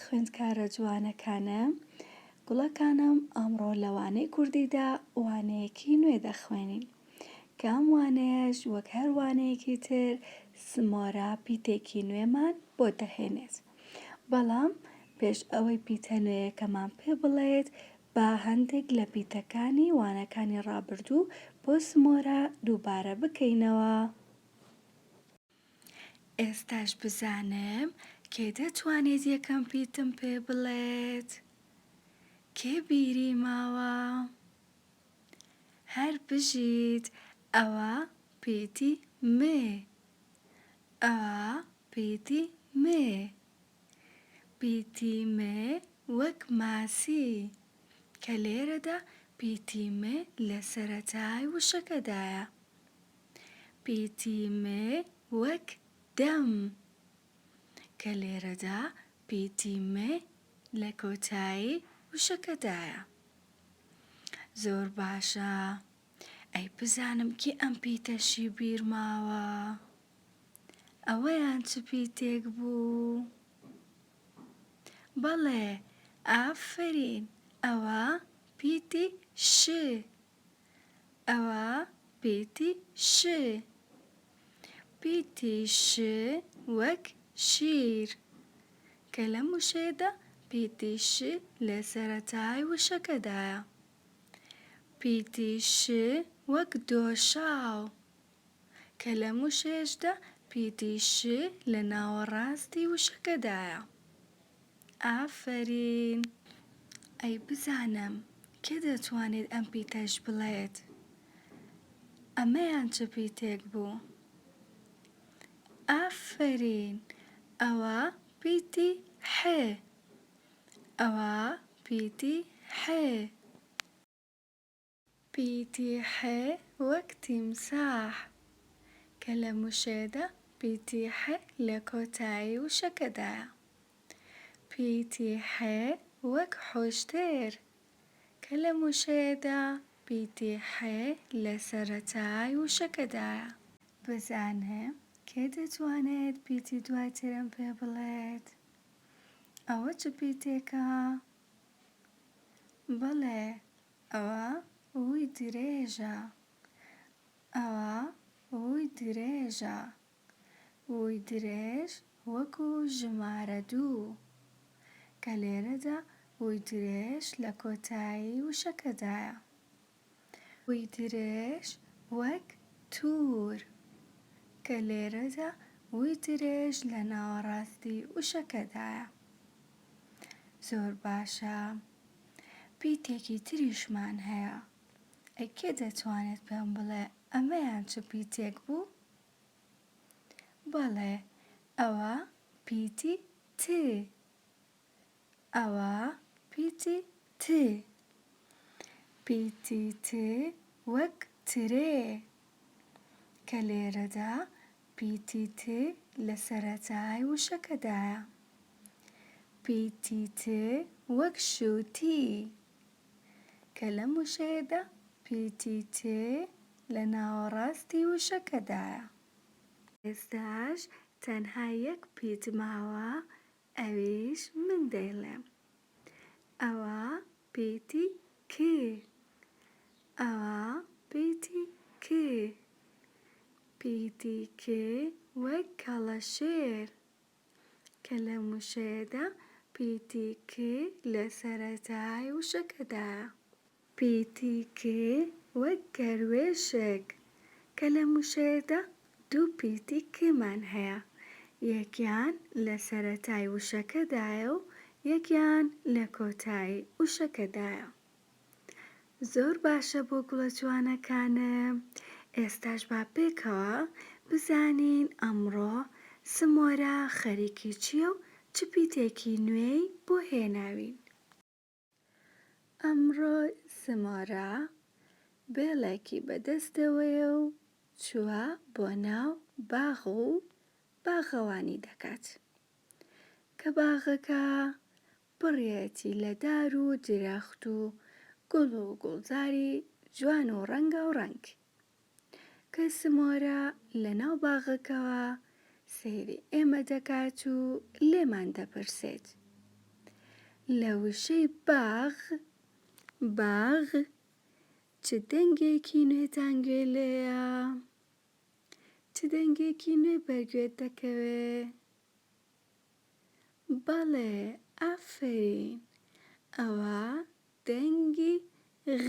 خوێندکارە جوانەکانم گوڵەکانم ئەمڕۆ لەوانەی کوردیدا وانەیەکی نوێ دەخوێنین کام وانەیەش وەک هەر وانەیەکی تر سمۆرە پیتێکی نوێمان بۆ دەهێنێت بەڵام پێش ئەوەی پیتە نوێیەکەمان پێ بڵێت، با هەندێک لە پیتەکانی وانەکانی ڕابردوو بۆ سمۆرە دووبارە بکەینەوە. ئێستاش بزانم کێ دەتوانێت یەکەم پیتم پێ بڵێت؟ کێ بیری ماوە؟ هەر بژیت، ئەوە پیتی مێ. ئە پیتی مێ پیتی مێ وەک ماسی کە لێرەدا پیتی مێ لە سەرەتای وشەکەدایە پیتی مێ وەک دەم کە لێرەدا پیتی مێ لە کۆتایی وشەکەدایە زۆر باشە. ئەی بزانم کێ ئەم پیتەشی بیر ماوە ئەوەیان چ پیتێک بوو بەڵێ ئافەرین ئەوە پیتی ش ئەوە پیتی ش پیتی ش وەک شیر کە لەم وشەیەدا پیتی ش لە سەرەتای وشەکەدایە. پیتی ش وەک دۆشاو، کە لەم وشەیەشدا پیتی ش لە ناوەڕاستی وشەکەدایە. ئافەرین. ئەی بزانم کێ دەتوانێت ئەم پیتەش بڵێت ئەمەیان چ پیتێک بوو؟ ئافەرین. ئەوە پیتی ح ئەوە پیتی حێ. پیتی حێ وەک تیمساح. کە لە موشێدا پیتی حێ لە کۆتایی وشەکەدایە. پیتی حێ وەک حوشتێر. کە لە موشێدا پیتی حێ لە سەرەتای وشەکەدایە. بزانە کێ دەتوانێت پیتی دوای ترم پێ بڵێت؟ ئەوە چ پیتێکە؟ بەڵێ ئەوە ووی درێژە. ئەوە ووی درێژە. ووی درێژ وەکو ژمارە دوو. کە لێرەدا ووی درێژ لە کۆتایی وشەکەدایە. وی درێژ وەک توور، کە لێرەدا وی درێژ لە ناوەڕاستی وشەکەدایە. زۆر باشە. پیتێکی تریشمان هەیە. ئەی کێ دەتوانێت پێم بڵێ ئەمەیان چ پیتێک بوو؟ بەڵێ، ئەوە پیتی ت ئەوە پیتی ت. پیتی ت وەک ترێ، کە لێرەدا پیتی ت لە سەرەتای وشەکەدایە. پیتی ت وەک شووتی، کە لەم وشەیەدا پیتی ت لە ناوەڕاستی وشەکەدایە. ئێستاش تەنها یەک پیت ماوە ئەویش من دەیڵێم ئەوە پیتی ک ئەوە پیتی ک پیتی ک وەک کەڵەشێر کە لە موشەیەدا پیتی ک لە سەرەتای وشەکەدایە. پی تی کێ وەک گەروێشک کە لە موشەیەدا دوو پی تی کێمان هەیە یەکیان لە سەرەتای وشەکەدایە و یەکیان لە کۆتایی وشەکەدایە زۆر باشە بۆ گوڵە جوانەکانم ئێستاش با پێکەوە بزانین ئەمڕۆ سمۆرە خەریکی چیە و چ پیتێکی نوێی بۆ هێناوین. ئەمڕۆ زمۆرە بێڵێکی بە دەستەوەیە و چووە بۆ ناو باغ و باغەوانی دەکات. کە باغەکە پڕیەتی لە دار و درەخت و گوڵ و گوڵزاری جوان و ڕەنگاوڕەنگ. کە سمۆرە لەناو باغەکەوە سەیری ئێمە دەکات و لێمان دەپرسێت لە وشەی باغ باغ چ دەنگێکی نوێتان گوێ لێیە چ دەنگێکی نوێ بەرگوێت دەکەوێ بەڵێ ئافەرین ئەوە دەنگی غ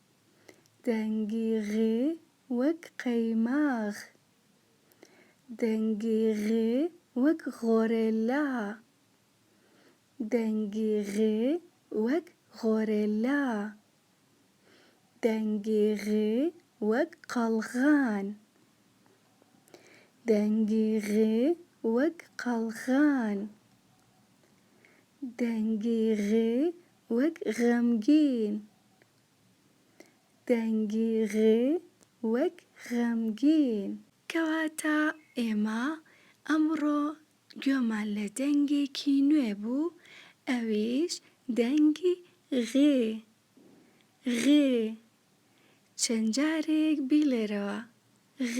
دەنگی غ وەک قەیماغ. دەنگی غ وەک غۆرێلا. دەنگی غ وەک غۆرێلا. دەنگی غ وەک قەڵغان. دەنگی غ وەک قەڵغان. دەنگی غ وەک غەمگین. دەنگی غ وەک غەمگین. کەواتە ئێمە ئەمڕۆ گوێمان لە دەنگێکی نوێ بوو ئەویش دەنگی غ. غ. چەند جارێک بیڵێرەوە، غ.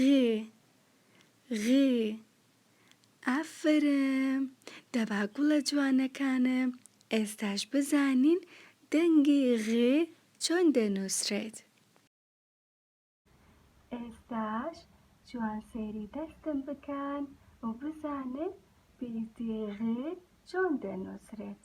غ. ئافەرم دەبا گوڵە جوانەکانم ئێستاش بزانین دەنگی غ چۆن دەنوسرێت. ئێستاش جوان سەیری دەستم بکەن و بزانن بیردی غ چۆن دەنوسرێت.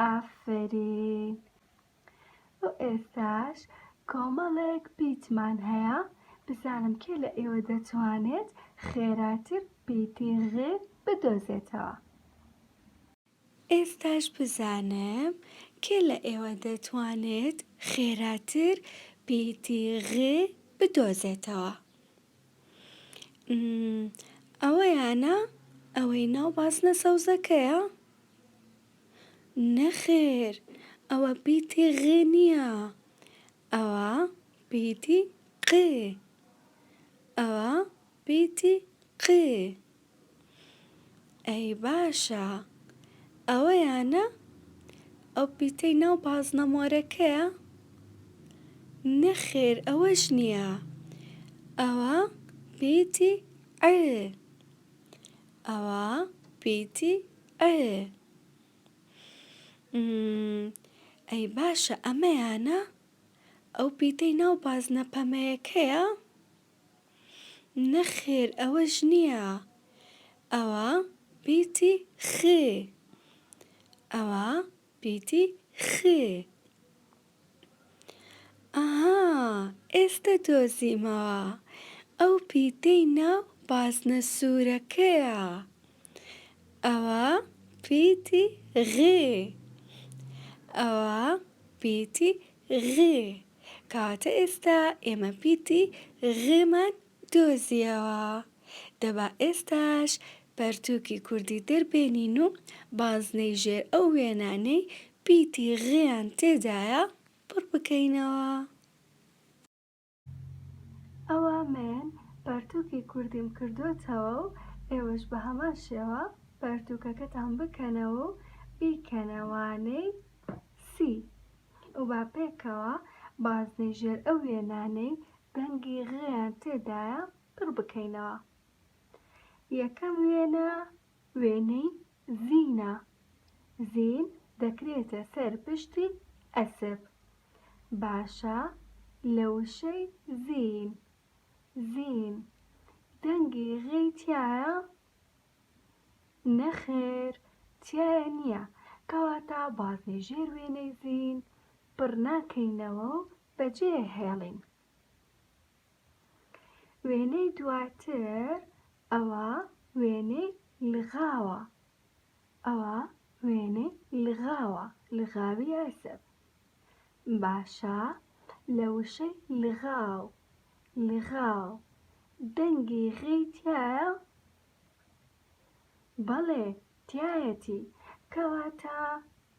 ئافەرین بۆ ئێستاش کۆمەڵێک پیتمان هەیە بزانم کێ لە ئێوە دەتوانێت خێراتر پیتی غێ بدۆزێتەوە ئێستاش بزانم کێ لە ئێوە دەتوانێت خێراتر پیتی غێ بدۆزێتەوە ئەوەیانە ئەوەی ناو بازنە سەوزەکەیە؟ نەخێر ئەوە پیتی غ نییە ئەوە پیتی ق ئەوە پیتی ق. ئەی باشە ئەوەیانە ئەو پیتەی ناو بازنە مۆرەکەیە؟ نەخێر ئەوەش نییە ئەوە پیتی عێ ئەوە پیتی عێ ئەی باشە ئەمەیانە ئەو پیتەی ناو بازنە پەمەیەکەیە؟ نەخێر ئەوەش نییە ئەوە پیتی خ ئەوە پیتی خ ئەها ئێستە دۆزیمەوە ئەو پیتەی ناو بازنە سوورەکەیە ئەوە پیتی غ ئەوە پیتی غ. کەواتە ئێستا ئێمە پیتی غمان دۆزیەوە دە با ئێستاش پەرتووکی کوردی دەربێنین و بازنەی ژێر ئەو وێنانەی پیتی غیان تێدایە پڕ بکەینەوە. ئەوا مەن پەرتووکی کوردیم کردۆتەوە و ئێوەش بە هەمان شێوە پەرتووکەکەتان بکەنەوە و بیکەنە وانەی سی. و با پێکەوە بازنەی ژێر ئەو وێنانەی دەنگی غیان تێدایە پڕ بکەینەوە. یەکەم وێنە، وێنەی زینە. زین دەکرێتە سەر پشتی ئەسپ. باشە لە وشەی زین، زین، دەنگی غی تیایە؟ نەخێر تیایە نیە کەواتە بازنەی ژێر وێنەی زین پڕ ناکەینەوە و بەجێ هێڵین وێنەی دواتر ئەوە وێنەی لغاوە ئەوە وێنەی لغاوە لغاوی ئەسب باشە لە وشەی لغاو لغاو دەنگی غی تیایە بەڵێ تیایەتی، کەواتە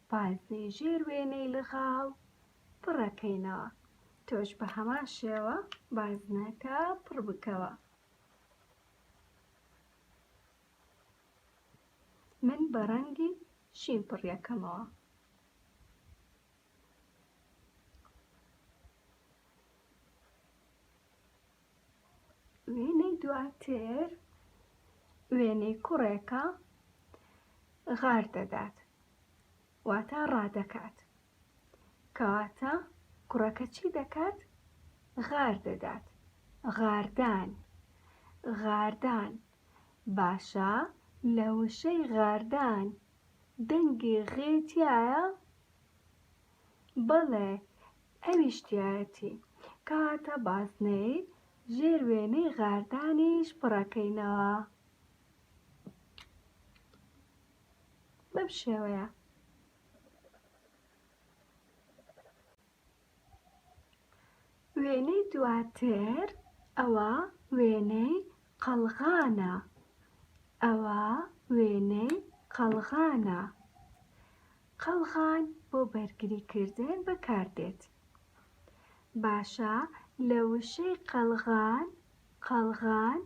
بازنەی ژێر وێنەی لغاو پڕەکەینەوە، تۆش بە هەمان شێوە بازنەکە پڕ بکەوە. من بە ڕەنگی شین پڕیەکەمەوە. وێنەی دواتر وێنەی کوڕێکە غار دەدات واتە ڕادەکات کەواتە کوڕەکە چی دەکات غار دەدات غاردان غاردان باشە لە وشەی غاردان دەنگی غێ تایە بەڵێ ئەویش تیایەتی. کەواتە بازنەی ژێر وێنەی غاردانیش پڕەکەینەوە. بەم شێوەیە. وێنەی دواتر ئەوە وێنەی قەڵغانە. ئەوە وێنەی قەڵغانە. قەڵغان بۆ بەرگری کردن بەکار دێت. باشە لە وشەی قەڵغان، قەڵغان،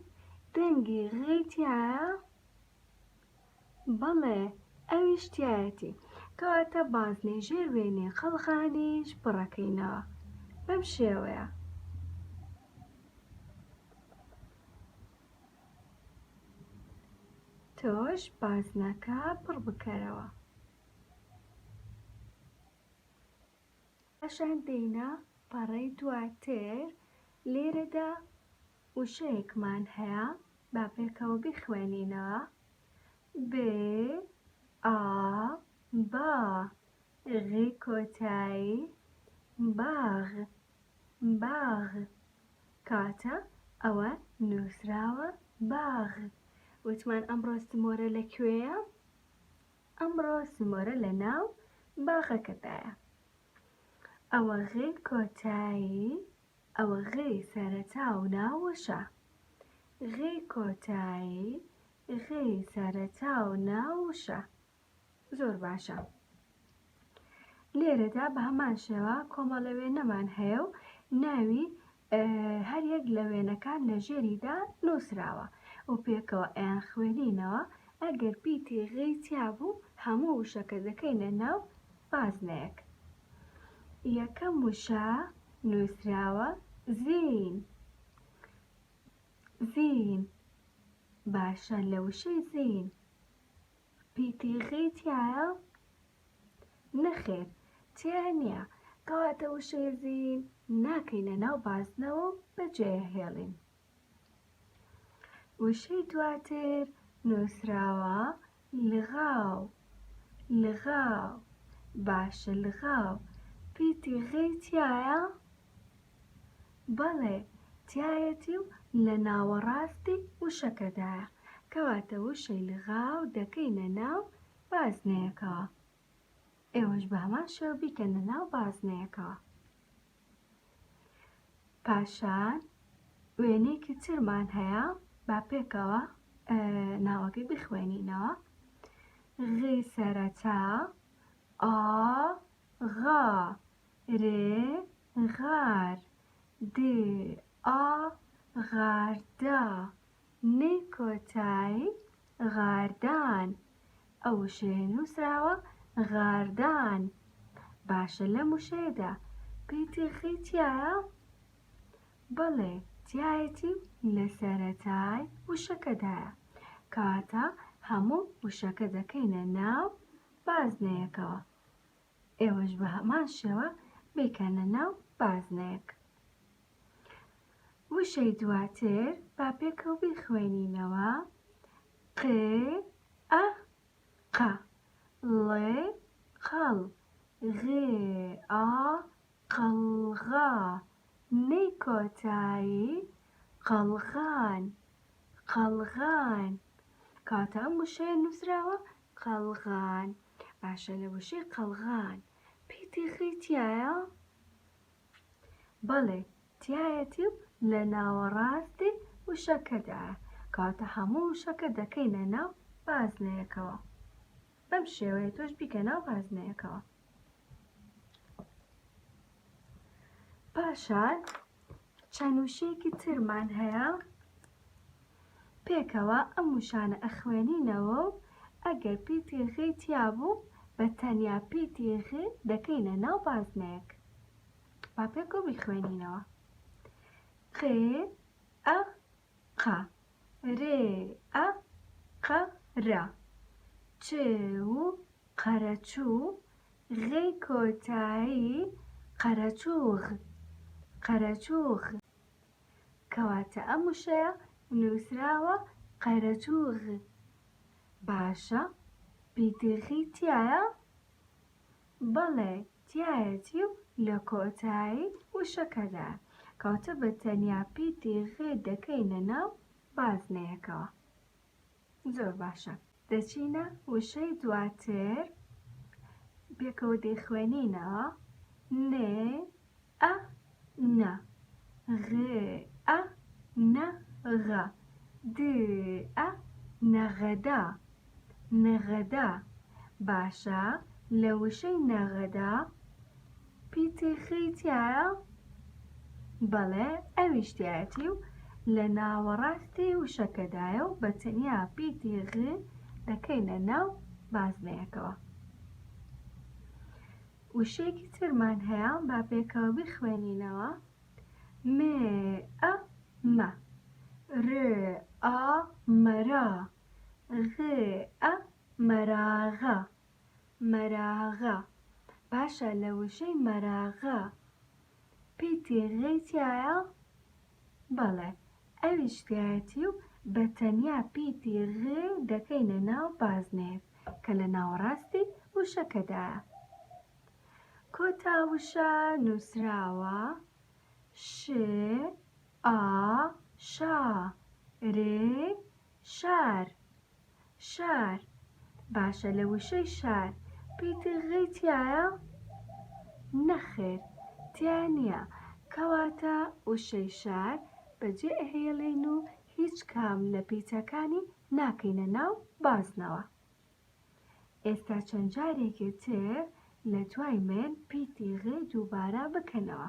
دەنگی غی تیایە؟ بەڵێ ئەویش تیایەتی. کەواتە بازنەی ژێر وێنەی قەڵغانیش پڕەکەینەوە. بەم شێوەیە. تۆش بازنەکە پڕ بکەرەوە. پاشان دێینە پەڕەی دواتر، لێرەدا وشەیەکمان هەیە با پێکەوە بیخوێنینەوە، ب ئا با غی کۆتایی باغ. باغ کاتە ئەوە نوسراوە باغ وتمان ئەمڕۆ سمۆرە لە کوێیە ئەمڕۆ سمۆرە لە ناو باغەکەدایە ئەوە غی کۆتایی ئەوە غی سەرەتا و ناوەشە غی کۆتایی غی سەرەتا و ناوشە زۆر باشە لێرەدا بە هەمان شێوە کۆمەڵە وێنەمان هەیە و ناوی هەر یەک لە وێنەکان لە ژێریدا نووسراوە و پێکەوە ئەیان خوێنینەوە ئەگەر پیتی غی تیا بوو هەموو وشەکە دەکەینە ناو بازنەیەک یەکەم وشە نووسراوە زین زین باشە لە وشەی زین پیتیخی تیایە؟ نەخێر تیا نییە کەواتە وشەیەزین ناکەینە ناو بازنەوە و بەجێهێڵین وشەی دواتر نووسراوە لغاو لغاو باشە لغاو پیتی غی تایە؟ بەڵێ تیایەتی و لە ناوەڕاستی وشەکەدایە، کەواتە وشەی لغاو دەکەینە ناو بازنەیەکەوە. ئێوەش بە هەمان شێوە بیکەنە ناو بازنەیەکەوە. پاشان وێنەیەکی ترمان هەیە با پێکەوە ناوەکەی بخوێنینەوە. غی سەرەتا ئا غا ر غار د ئا غاردە ن کۆتای غاردان ئە وشەیە نوسراوە غاردان باشە لەم وشەیەدا پیتی خی تیایە بەڵێ تیایەتی و لەسەرەتای وشەکەدایە کەواتە هەموو وشەکە دەکەینە ناو بازنەیەکەوە. ئێوەش بە هەمان شێوە بیکەنە ناو بازنەیەک. وشەی دواتر با پێکەوە بیخوێنینەوە، ق ئە ق ڵ قەڵ غ ئا قەڵغا نەی کۆتایی قەڵغان قەڵغان کاتە ئەم وشەیە نووسراوە قەڵغان، باشە لە وشەی قەڵغان پێی تێخەی تیایە؟ بەڵێ تیایەتی و لە ناوەڕاستی وشەکەدایە کەواتە هەموو وشەکە دەکەینە ناو بازنەیەکەوە بەم شێوەیە تۆش بیکە ناو بازنەیەکەوە پاشان چەند وشەیەکی ترمان هەیە پێکەوە ئەم وشانە ئەخوێنینەوە و ئەگەر پیتی غی تیا بوو بە تەنیا پیتی غی دەکەینە ناو بازنەیەک با پێکەوە بیخوێنینەوە قێ ئە ق رێ ئە ق رە چ و قەرەچوو غی کۆتایی قەرەچووغ قەرەچووغ کەواتە ئەم وشەیە نووسراوە قەرەچووغ باشە بیدغی تیایە؟ بەڵێ تیایەتی و لە کۆتایی وشەکەدا کەوتە بە تەنیا پیتی غی دەکەینە ناو بازنەیەکەوە زۆر باشە دەچینە وشەی دواتر پێکەوە دەیخوێنینەوە نێ ئە نە غ ئە نە غە د ئە نەغەدە نەغەدە باشە لە وشەی نەغەدە پیتیخی تیایە بەڵێ ئەویش تایەتی و لە ناوەڕاستی وشەکەدایە و بە تەنیا پیتی غ دەکەینە ناو بازنەیەکەوە وشەیەکی ترمان هەیە با پێکەوە بیخوێنینەوە م ئە مە ر ئا مەرا غ ئە مەراغە مەراغە باشە لە وشەی مەراغە پیتی غەی تیایە؟ بەڵێ ئەویش تیایەتی و بە تەنیا پیتی غ دەکەینە ناو بازنەیەک کە لە ناوەڕاستی وشەکەدایە. کۆتا وشە نووسراوە ش ئا شا ر شار. شار، باشە لە وشەی شار پیتی غ تیایە؟ نەخێر تیا نیە، کەواتە وشەی شار بەجێ ئەهێڵین و هیچ کام لە پیتەکانی ناکەینە ناو بازنەوە. ئێستا چەند جارێکێ تر لە دوای من پیتی غ دووبارە بکەنەوە.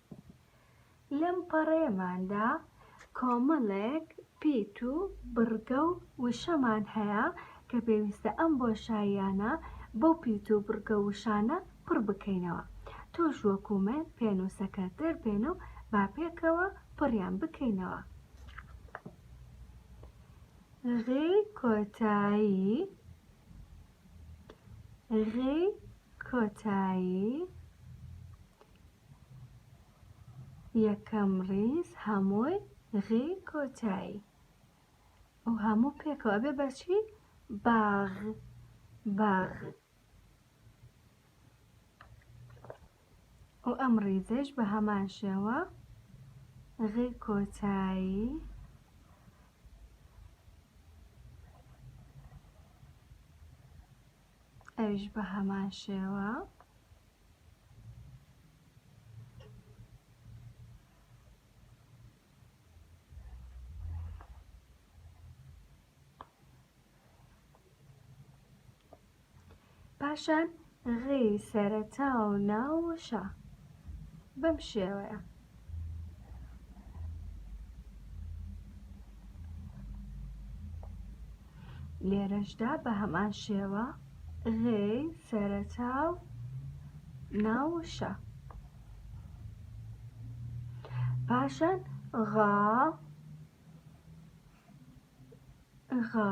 لەم پەڕەیەماندا کۆمەڵێک پیت و بڕگە و وشەمان هەیە کە پێویستە ئەم بۆشاییانە بەو پیت و بڕگە و وشانە پڕ بکەینەوە. تۆش وەکوو من پێنووسەکەت دەربێن و با پێکەوە پڕیان بکەینەوە. غی کۆتایی غی کۆتایی یەکەم ڕیز هەمووی غی کۆتایی ئەو هەموو پێکەوە ئەبێ بەچی باغ باغ و ئەم ڕیزش بە هەمان شێوە غی کۆتایی ئەویش بە هەمان شێوە پاشان غی سەرەتا و ناو و شا بەم شێوەیە لێرەشدا بە هەمان شێوە غێ سەرەتا و ناوشە پاشان غا غا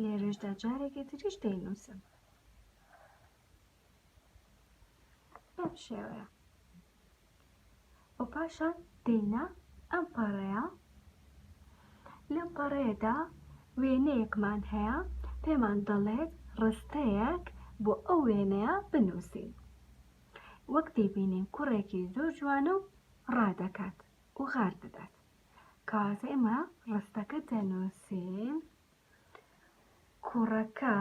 لێرەشدا جارێکی تریش دەینووسم بەم شێوەیە و پاشان دێینە ئەم پەڕەیە لەم پەڕەیەدا وێنەیەکمان هەیە پێمان دەڵێت ڕستەیەک بۆ ئەو وێنەیە بنووسین وەک دەیبینین کوڕێکی زۆر جوانە و ڕادەکات و غار دەدات کاتێ ئێمە ڕستەکە دەنووسین کوڕەکە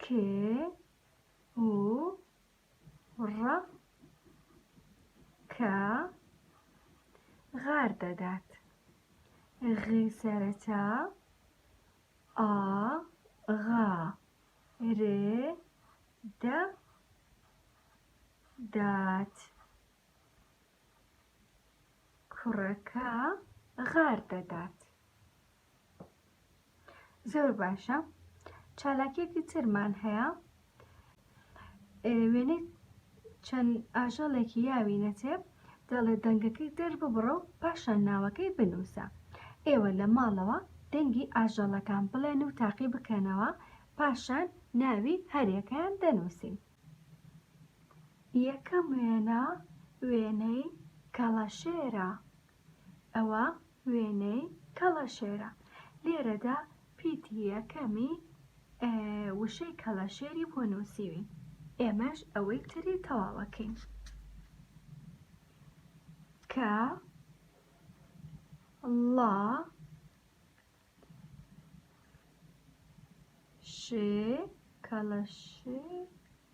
کێ و ڕە کە غار دەدات غی سەرەتا ئا غا رێ دە دات کوڕەکە غار دەدات. زۆر باشە چالاکیەکی ترمان هەیە وێنەی چەند ئاژەڵێکی یاوی نەتێ دەڵێ دەنگەکەی دەرببڕە و پاشان ناوەکەی بنووسە ئێوە لە ماڵەوە دەنگی ئاژەڵەکان بڵێن و تاقی بکەنەوە پاشان ناوی هەرێکەیان دەنووسین یەکەم وێنە وێنەی کەڵەشێرە. ئەوە وێنەی کەڵەشێرە. لێرەدا پیتی یەکەمی وشەی کەڵەشێری بۆ نووسیوین. ئێمەش ئەوەی تری تەواوەکەین. کە ڵا شێ کەڵەشێر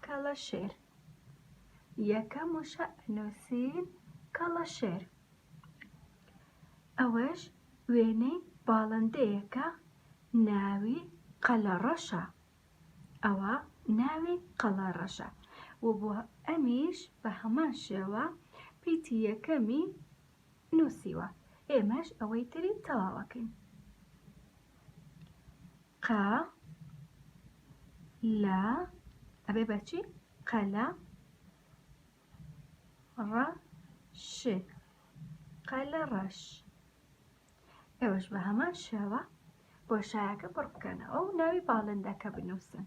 کەڵەشێر یەکەم وشە ئەنووسین کەڵەشێر ئەوەش وێنەی باڵندەیەکە ناوی قەلەڕەشە ئەوە ناوی قەڵەڕەشە و بۆ ئەمیش بە هەمان شێوە پیتی یەکەمی نوسیوە ئێمەش ئەوەی تری تەواوەکەین قە لە ئەبێ بەچی قەلە ڕە ش قەلە ڕەش ئێوەش بە هەمان شێوە بۆشایەکە پڕ بکەنەوە و ناوی باڵندەکە بنووسن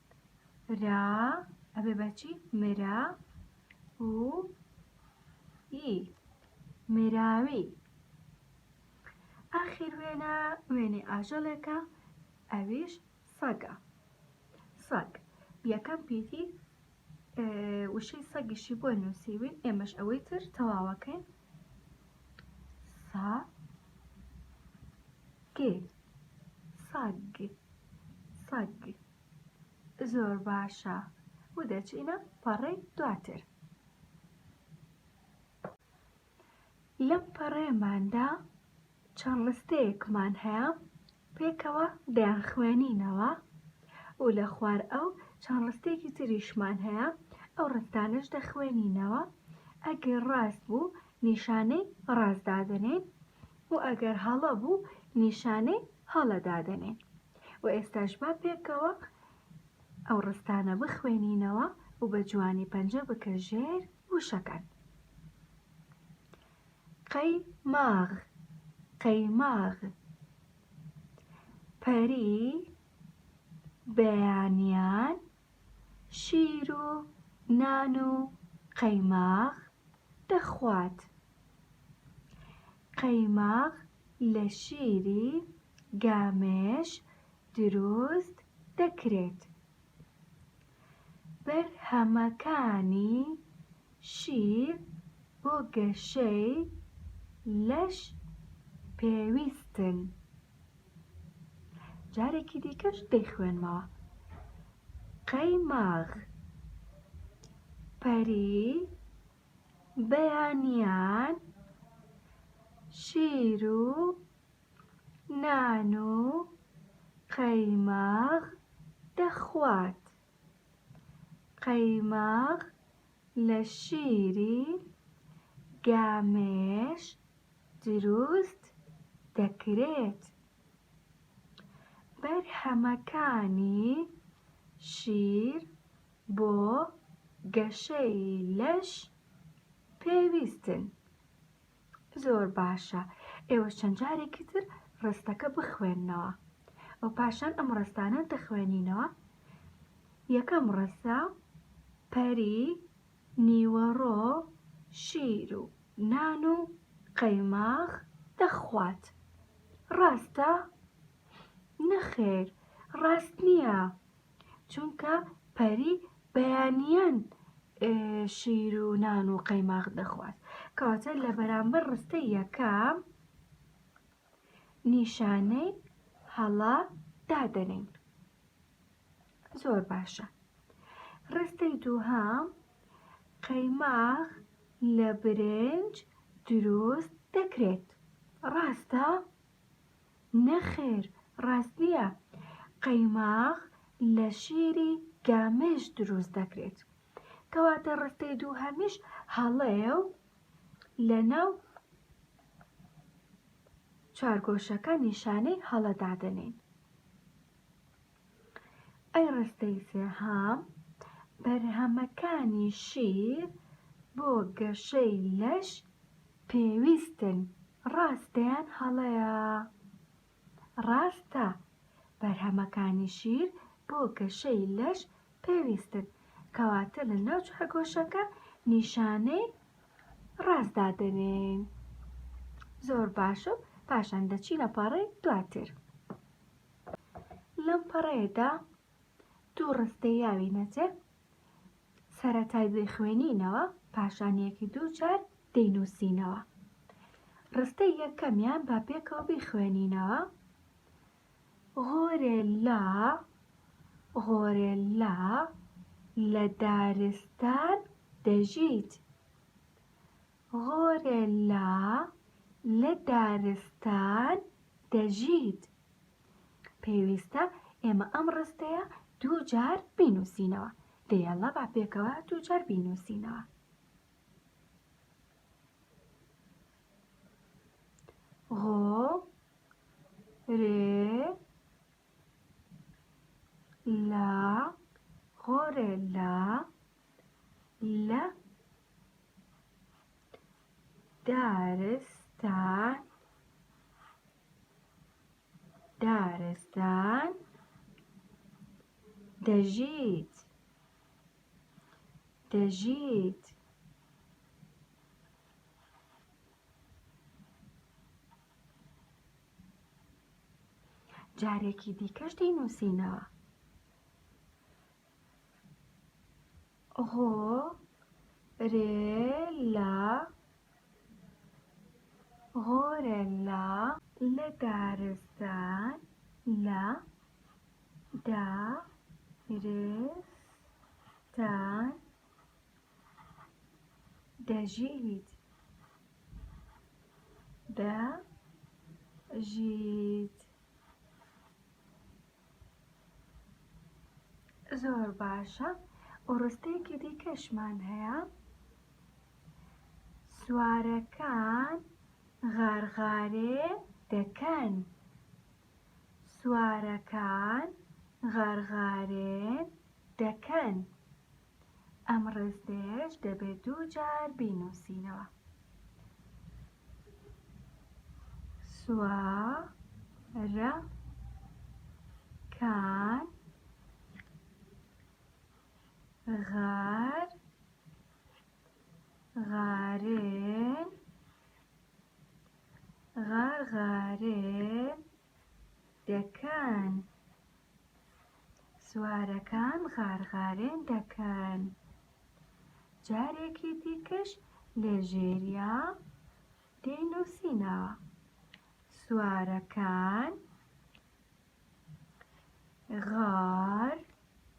را ئەبێ بە چی مرا و ئی مراوی ئاخیر وێنە وێنەی ئاژەڵێکە ئەویش سەگە سەگ یەکەم پیتی وشەی سەگیشی بۆ نووسیوین ئێمەش ئەوەی تر تەواوەکەین سا گ سەگ سەگ زۆر باشە و دەچینە پەڕەی دواتر لەم پەڕەیەماندا چەند ڕستەیەکمان هەیە پێکەوە دەیانخوێنینەوە و لە خوار ئەو چەند ڕستێکی تریشمان هەیە ئەو ڕستانەش دەخوێنینەوە ئەگەر ڕاست بوو نیشانەی ڕاست دادەنێین و ئەگەر هەڵە بوو نیشانەی هەڵە دادەنێین و ئێستاش با پێکەوە ئەو ڕستانە بخوێنینەوە و بە جوانی پەنجە بکە ژێر وشەکان. قەی ماغ قەیماغ پەری بەیانیان شیر و نان و قەیماغ دەخوات قەیماغ لە شیری گامێش دروست دەکرێت بەرهەمەکانی شیر بۆ گەشەی لەش پێویستن. جارێکی دیکەش دەیخوێنمەوە. قەیماغ پەری بەیانیان شیر و نان و قەیماغ دەخوات. قەیماغ لە شیری گامێش دروست دەکرێت. بەرهەمەکانی شیر بۆ گەشەی لەش پێویستن. زۆر باشە ئێوە چەند جارێکی تر ڕستەکە بخوێنەوە ئەو پاشان ئەم ڕستانە دەخوێنینەوە یەکەم ڕستە پەری نیوەڕۆ شیر و نان و قەیماغ دەخوات ڕاستە نەخێر ڕاست نییە چونکە پەری بەیانیان شیر و نان و قەیماغ دەخوات کەواتە لە بەرامبەر ڕستە یەکەم نیشانەی هەڵا دادەنین زۆر باشە ڕستەی دووهام قەیماغ لە برنج دروست دەکرێت ڕاستە نەخێر ڕاست نییە، قەیماغ لە شیری گامێش دروست دەکرێت، کەواتە ڕستەی دووهەمیش هەڵەیە و لەناو چوارگۆشەکە نیشانەی هەڵە دادەنێین. ئەی ڕستەی سێهەم، بەرهەمەکانی شیر بۆ گەشەی لەش پێویستن، ڕاستە یان هەڵەیە؟ ڕاستە، بەرهەمەکانی شیر بۆ گەشەی لەش پێویستن، کەواتە لە ناو چوارگۆشەکە نیشانەی ڕاست دادەنێین. زۆر باش و پاشان دەچینە پاڕی دواتر. لەم پەڕەیەدا دوو ڕستەی یاوی نەجێ سەرەتای دەیخوێنینەوە پاشان یەکی دوو جار دەینووسینەوە ڕستەی یەکەمیان با پێکەوە بیخوێنینەوە غۆرێلا غۆرێلا لە دارستان دەژیت غۆرێلا لە دارستان دەژیت. پێویستە ئێمە ئەم ڕستەیە دوو جار بینووسینەوە. دە یەڵڵا با پێکەوە دوو جار بینووسینەوە. غۆ رێ لا غۆرێلا لە دارستان دارستان دەژیت دەژیت جارێکی دیکەش دەینووسینەوە هۆ رێ لە غۆرەلا لە دارستان لە دا رس تان دە ژی یت دە ژی یت زۆر باشە ڕستەیەکی دیکەشمان هەیە سوارەکان غارغارێ دەکەن سوارەکان غارغارێ دەکەن ئەم ڕێستەیەش دەبێ دوو جار بینووسینەوە. سوارەکان غار غارێن غار غارێن. دەکەن. سوارەکان غارغارێن دەکەن. جارێکی دیکەش لە ژێریا دەینووسینەوە سوارەکان غار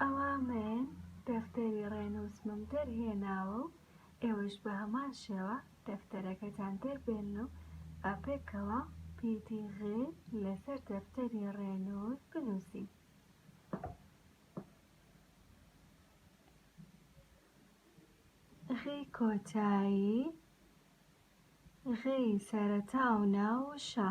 ئەوا مەێن دەفتەری ڕێنووسمم دەرهێناوە و ئێوەش بە هەمان شێوە دەفتەرەکەتان دەربێنن و با پێکەوە پیتی غێ لەسەر دەفتەری ڕێنووس بنووسین. غی کۆتایی غی سەرەتا و ناو و شا.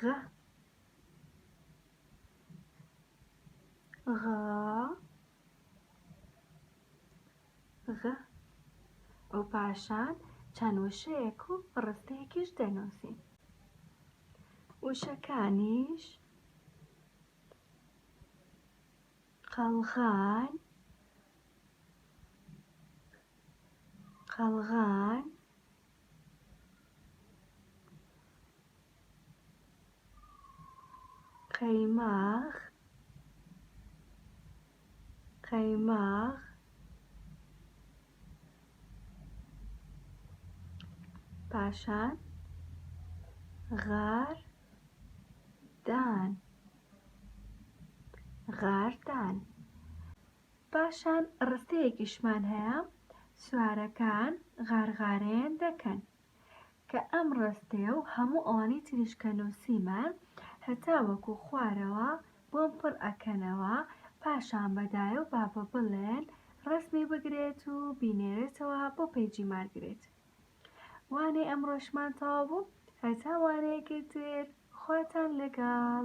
غ غ غ و پاشان چەند وشەیەک و ڕستەیەکیش دەنووسین وشەکانیش قەڵغان قەڵغان قەیماغ قەیماغ پاشان غار دان غار دان پاشان ڕستەیەکیشمان هەیە سوارەکان غارغارەیان دەکەن کە ئەم ڕستەیە و هەموو ئەوانەی تریش کە نووسیمان هەتاوەکو خوارەوە بۆم پڕ ئەکەنەوە پاشان بە دایە و بابە بڵێن ڕەسمی بگرێت و بینێرێتەوە بۆ پەیجی مارگرێت وانەی ئەمڕۆشمان تەواو بوو هەتا وانەیەکی تر خواتان لەگەڵ.